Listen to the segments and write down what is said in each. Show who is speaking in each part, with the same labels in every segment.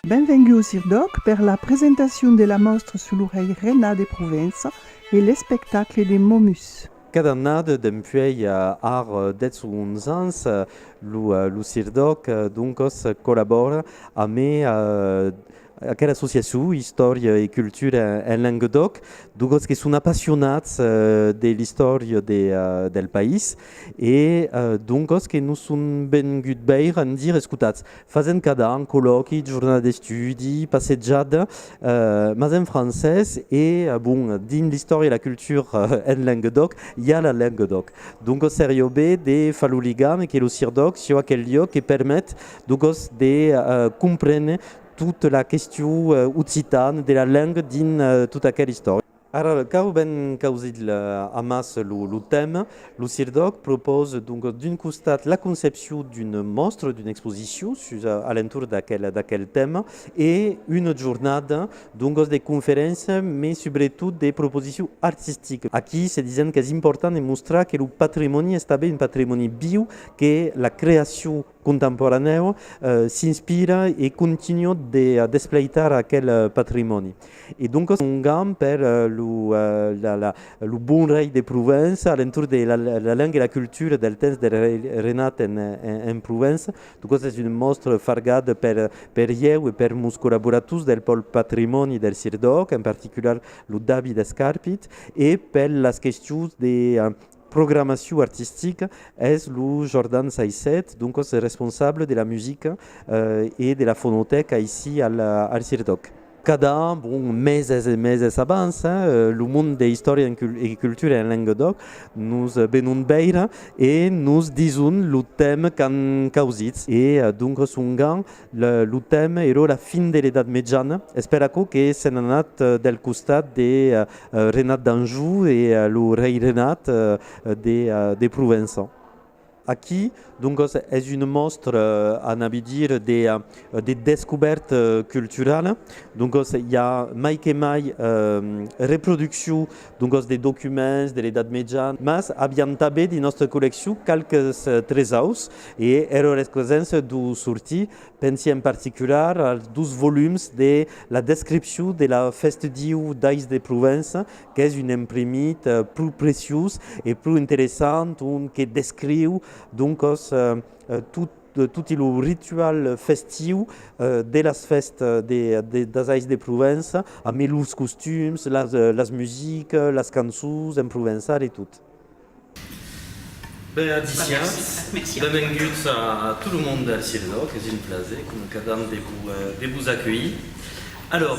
Speaker 1: Benvenguts ir d'òc per la presentacion de la mòstra sus lo rei Renat de Provença e l'espectacle de Momus. Cada annada
Speaker 2: dempuèi ar 10-11 ans, lo Sir d'Òc doncas collabòra amé Aquela associacion Istòria e cultura en Languedoc, dugòts que son apassionats de l'istòria del país e dongòts que nos son venguts veire, endire, escotats, fasent cada an collòqui, jornada d'estudi, passejada, mas en francés e, bon, dins l'istòria e la cultura en Languedoc, i a la Languedoc. Dongòts seriá ben de far lo ligam e que lo CIRDOC siá aquel liòc que permet de gos de comprene tota la question occitane de la lengue dins tota aquela istòria. Ara cau ben causir amassa lo tèma. Lo CIRDOC propose donc d'un costat la concepcion d'una mòstra, d'una exposicion sus a l'entorn d'aquel tèma e una jornada donc de conferéncia mas subretot de proposicion artistica. Aquí se disent qu'es important de mostrar que lo patrimòni es tanben un patrimòni viu, que la creacion contemporanèu s'inspira e continua de despleitar aquel patrimòni. E doncas un gam per lo bon rei de Provença a l'entorn de la lenga e la cultura del temps del rei Renat en Provença. Doncas es un mòstre fargat per ieu e per mos collaborators del pòl patrimòni del Sirdòc, en particular lo David Escarpit, e per las questions de programacion artistica es lo Jordan Saisset, doncas responsable de la musica e de la fonotèca aicí al Cirtòc. Cada an, bon, meses e meses abans, lo mond de Istòria e Cultura en Languedòc nos venon veire e nos dison lo temps qu'an causits e doncas ongan Lo temps ero la fin de l'Edat Mejana, es per aquò que s'en anat del costat de Renat d'Anjou e lo rei Renat de Provença. Aquí, doncas, es una mòstra, anam bidir, de descobèrta culturala. Doncas, i a mai que mai reproduccion Doncas de documents de l'Edat Mejan. Mas aviam tanben dins nòstra colleccion qualques tresaus e era rescrescença d'o sortir. Pensi en particular als dos volums de la Descripcion de la Festdiu d'Ais de Provença, qu'es un imprimit pro preciós e pro interessant ont que descriu doncas tot, de toti lo ritual festiu de las fèstas de das ais de Provença a me los costums las las musiques las cançons en provençal e tot. Ben adiciatz, benvenguts a tot lo monde del Cirenaut, es un plaser com cadam de vos acuelhir. Alors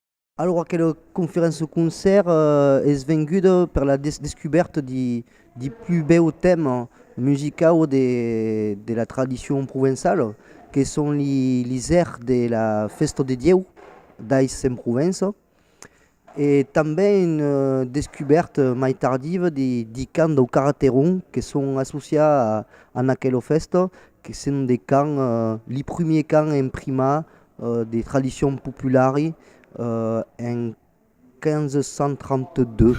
Speaker 2: Alora que
Speaker 3: la conferença concèrt es venguda per la descubèrta de plus bèu tèma musicau de la tradicion provençala que son les airs de la fèsta de Dieu d'Ais en Provença e tanben una descubèrta mai tardiva de cants dau Carreteron que son associats a aquela fèsta que son de cants les premiers cants imprimats de tradicion populari en 1532.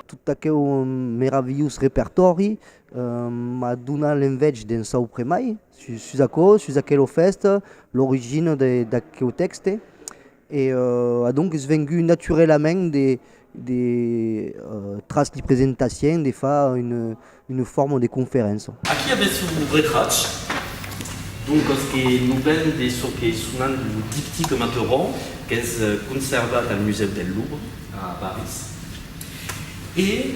Speaker 3: Tot aqueu meravilhós repertòri m'a donat l'envètge d'en saupre mai. Sus aquò, sus aquelo fèst, l'origina d'aqueu tèxte e adonques vengut naturelament de de tras li presentaciens de far una forma de conferença. Aquí avètz lo
Speaker 2: retratge, doncas que non ven de çò que sonam lo diptique Mateuron qu'es conservat al Musèu del Louvre a París. E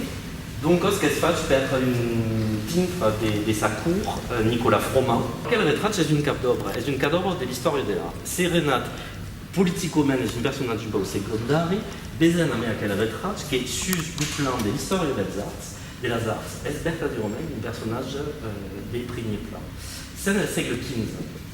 Speaker 2: doncas qu'es fach per un pintre de sa cour, Nicolas Froment. Aquel retrach es un cap d'òbra, es un cadavre de l'istòria de l'art. Se Renat politicament
Speaker 4: es un personatge bèu segondari, vesen amé aquel retrach que sus lo plan de l'istòria dels arts, de las arts, es vertadièrament un personatge de primier plan. Sens el sègle 15.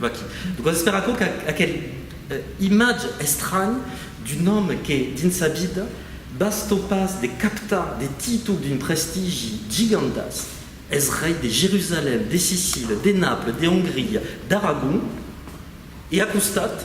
Speaker 4: Vaquí. Doncas espèr aquò qu'aquel imatge estranh d'un òme que, dins sa vida, bastó pas de captar de títol d'un prestigi gigantesc, es rei de Jerusalèm, de Sicília, de Naples, de Ongria, d'Aragon, e a costat,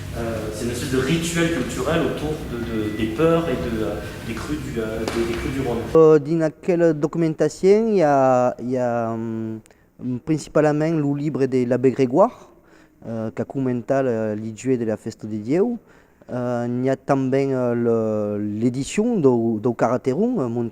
Speaker 4: C'est une espèce de rituel culturel autour des peurs et des crues du Rhône. Dins aquela
Speaker 3: documentacion i a principalament lo libre de l'abbé Grégoire qu'a comentat li jueus de la fèsta de Dieu. N'i a tanben l'edicion dau Carateron,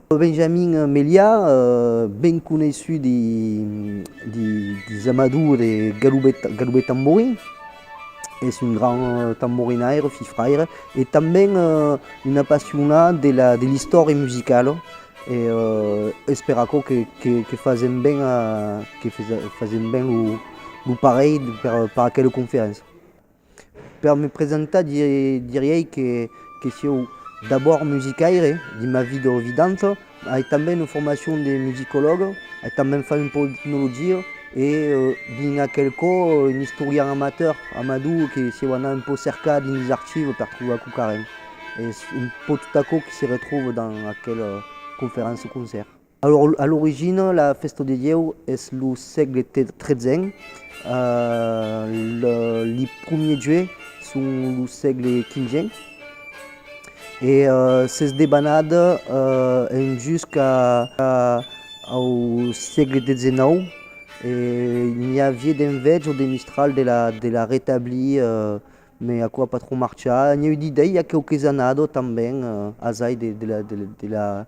Speaker 3: Benjamin Meliá, ben coneishut dins Amador de Garoubet Tamborin, es un grand tamborinaire, fifraire e tanben un apassionat de l'istòria musicala e es per aquò que fasèm ben lo parelh per aquela conferéncia. Per me presentar diriei que sieu d'abòrd musicaire de ma vida ovidanta, ai tanben una formacion de musicològa, ai tanben fach un pauc d'etnologia e dins aquel cò un istorian amateur, amador que sieu anat un pauc cercar dins los archives per trobar quauquarren. Es un pauc tot aquò que se retrouve dins aquela conferença-concèrt. A l'origina, la fèsta de Ieu es lo sègle XIII, li primièr jueu son lo sègle XVe e s'es debanat en jusca au sègle XIX e n'i aviá d'enveja o de mistral de la retablir mai aquò a pas tròp marchar. N'i a eu d'idèia quauque's anada tanben asai de la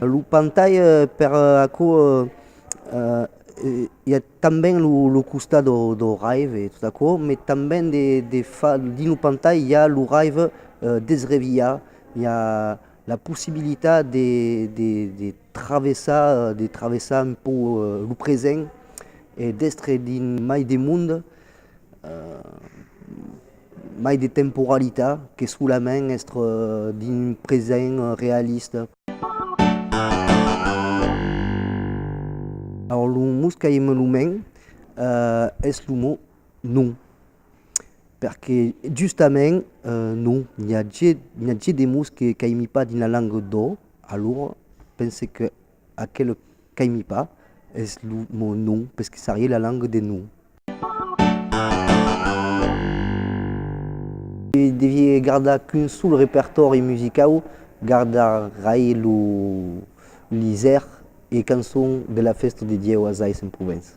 Speaker 3: Lo pantai per aquò i a tanben lo costat do raive e tot aquò, me tanben dins lo pantai i a lo raive desreviat, i a La possibilitat de travessar, de travessar un pauc lo present e d'èstre dins mai de monde, mai de temporalitat que solament èstre dins un present realista. Lo mot qu'ai en lo ment es lo mot non. Perque justament non, n'i a ge, n'i a ge de mots que qu'aimi pas dins la langa d'ò, alora pense que aquel qu'aimi pas es lo mot non, pesque s'arrié la langa de non. Se devié gardar qu'un sol repertòri musicau, gardarai lo Liser e cançons de la fèsta de Dieu a Sais en Provença.